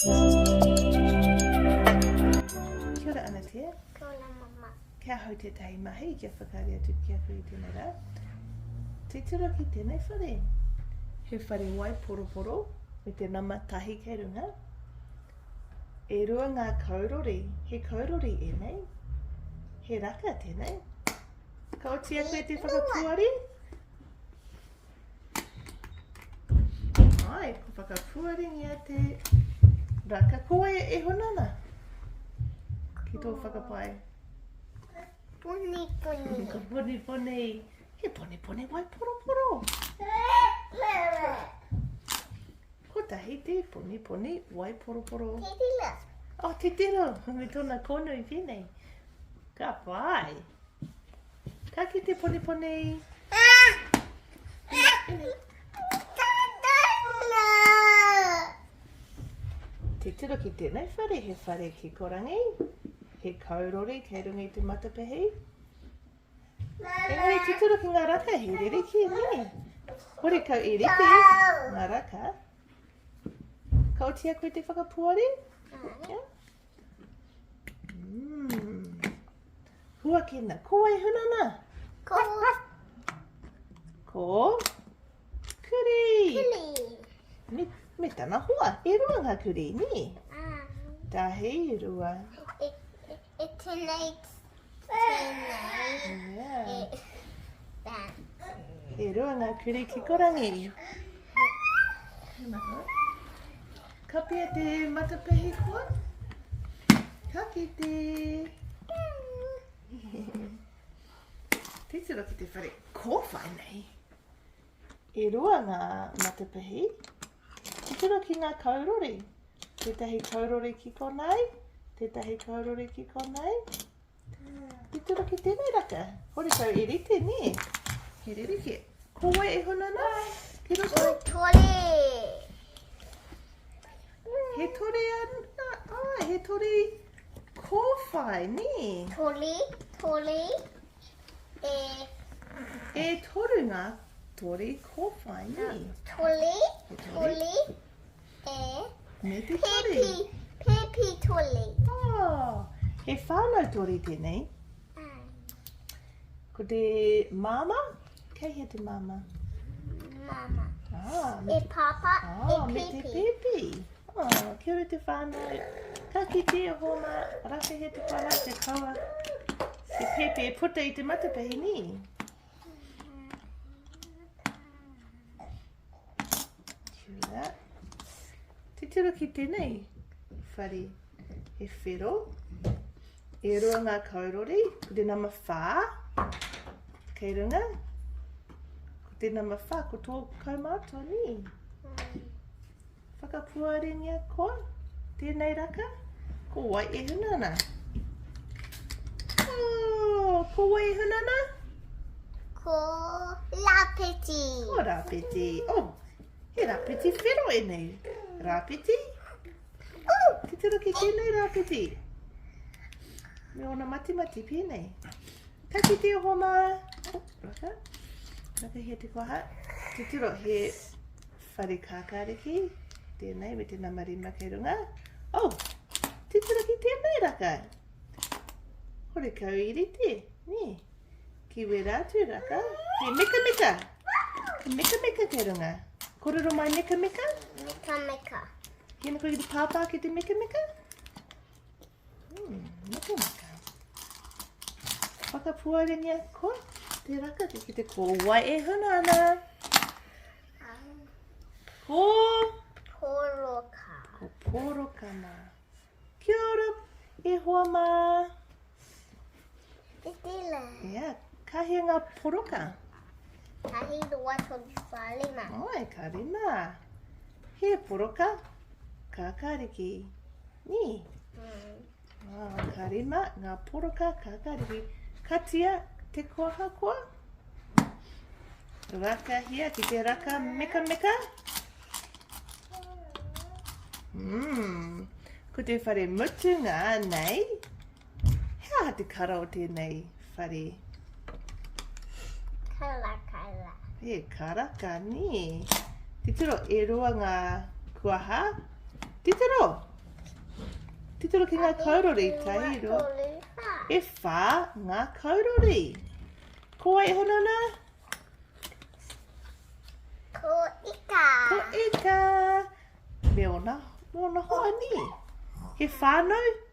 Kia ora Anatea. Kia ora mama. Kia hau tētahi mahi kia whakaari atu ki a koe i tēnei rā. Titiro ki tēnei whare. He whare wai poroporo me te nama tahi kei runga. E rua ngā kaurori. He kaurori ēnei. He raka tēnei. Ka oti a koe te whakapuari. Ai, ko whakapuaringia te raka. Ko e, e honana? Ki tō whakapai? Poni poni. Ko poni poni. He poni poni wai poro poro. Ko tahi te poni poni wai poro poro. Titila. Oh, titila. Me tona kono i tēnei. Ka pai. Ka kite poniponi. Te tiro ki tēnei whare, he whare kikorangi, he kaurori kei runga i te matapehi. Engari te tiro ki ngā raka, he ririki, nē. Hore kau i rite, ngā raka. Ka otia koe te whakapuari? Yeah. Huakina, ko wai hunana? Ko. Ko. Kuri. Kuri. Me, me tana hoa, e rua ngā kuri, ni? Ah. Tahi, rua. E, e, e tēnei, tēnei. Yeah. E, that. E rua ngā kuri ki korangi. Thank you. Kapia te matapehi koa. Ka kite. Titiro ki te whare kōwhai nei. E rua ngā matapehi. Titiro ki ngā kaurori. Tētahi kaurori ki konei. Tētahi kaurori ki konei. Tito rake tēnei raka. Hore tau e rite, nē. He rerekē. Ko wai e huna na? Tino tau. He tore. He tore ana. Ah, he tore kōwhai, nē. Tore, tore. E. E toru ngā tore kōwhai, nē. Tore, tore. E. Me te tori. He pi, he pi tori. Oh, he whānau tori tēnei. Ko te māma, kei he te māma? Māma. Ah, me e te... pāpā, oh, e me te pēpī. Oh, kia ora te whānau. Ka kite a hōna, rafe he te whānau, te kawa. Te pēpī e puta i te matapehi, nī? Kia. Titiro ki tēnei whare he whero. E roa ngā kaurori, ko te nama whā. Kei runga. Ko te nama whā, ko tō kaumātua, nē? Whakapuarengia koa, tēnei raka, ko wai e huna ana? Oh, ko wai e huna ana? Ko Rapeti. Ko Rapeti. Oh, he Rapeti whero e nei. Rapeti. Oh, ki te roki tēnei Rapeti. Me ona mati mati pēnei. Taki te oho mā. Raka. Raka he te koha. Te tiro he Whare kākāriki, tēnei me te nama rima kei runga. Oh, titiro ki tēnei raka. Hore kau i rite, nē. Ki wera atu raka, he meka meka. He meka meka kei runga. Kororo mai meka meka. Meka meka. Hina koe ki te pāpā ki te meka meka. Whakapuarengia ko te raka te ki te kōwai e huna ana. Ko... Pōroka. Ko pōroka mā. Kia ora, e hoa mā. Tēnā. Ia, ka hia ngā poroka? Ka hia roa tonu whā rima. Oi, ka rima. He poroka, kākāriki. Nī? Mm. Oh, ka rima, ngā poroka, kākāriki. Katia, te koha koa. Raka hia ki te raka meka meka. Mmm. Ko te whare mutunga nei. He aha te kara o tēnei whare? Karakara. He karaka, nī. Titiro, e roa ngā kuaha. Titiro! Titiro ki ngā kaurori, tairo. E whā ngā kaurori. Ko wai e hono nā? Ko ika. Ko ika. Me ona, me ona hoa nī. He whānau?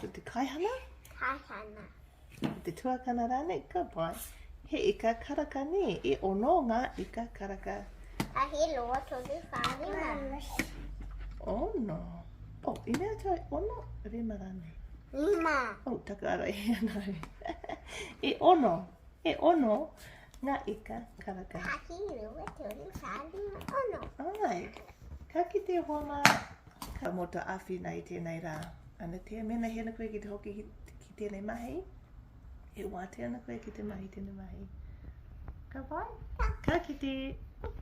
Ko te kaihana? Kaihana. Ko te tuakana rānei? Ka pai. He ika karaka nē, e ono ngā ika karaka. A he loa tonu whāne mā. Ono. O, oh, i mea tau e ono, rima rānei. Rima. O, oh, taka ara e ana. e ono, e ono Nga ika, karaka. Haki rua toru taru ono. Ai, ka kite hoa ma. Ka mo to awhina i tenei ra. Ana te, mena hena koe ki te hoki ki, ki tenei mahi. E wate ana koe ki te mahi tenei mahi. Ka wai? Ka kite.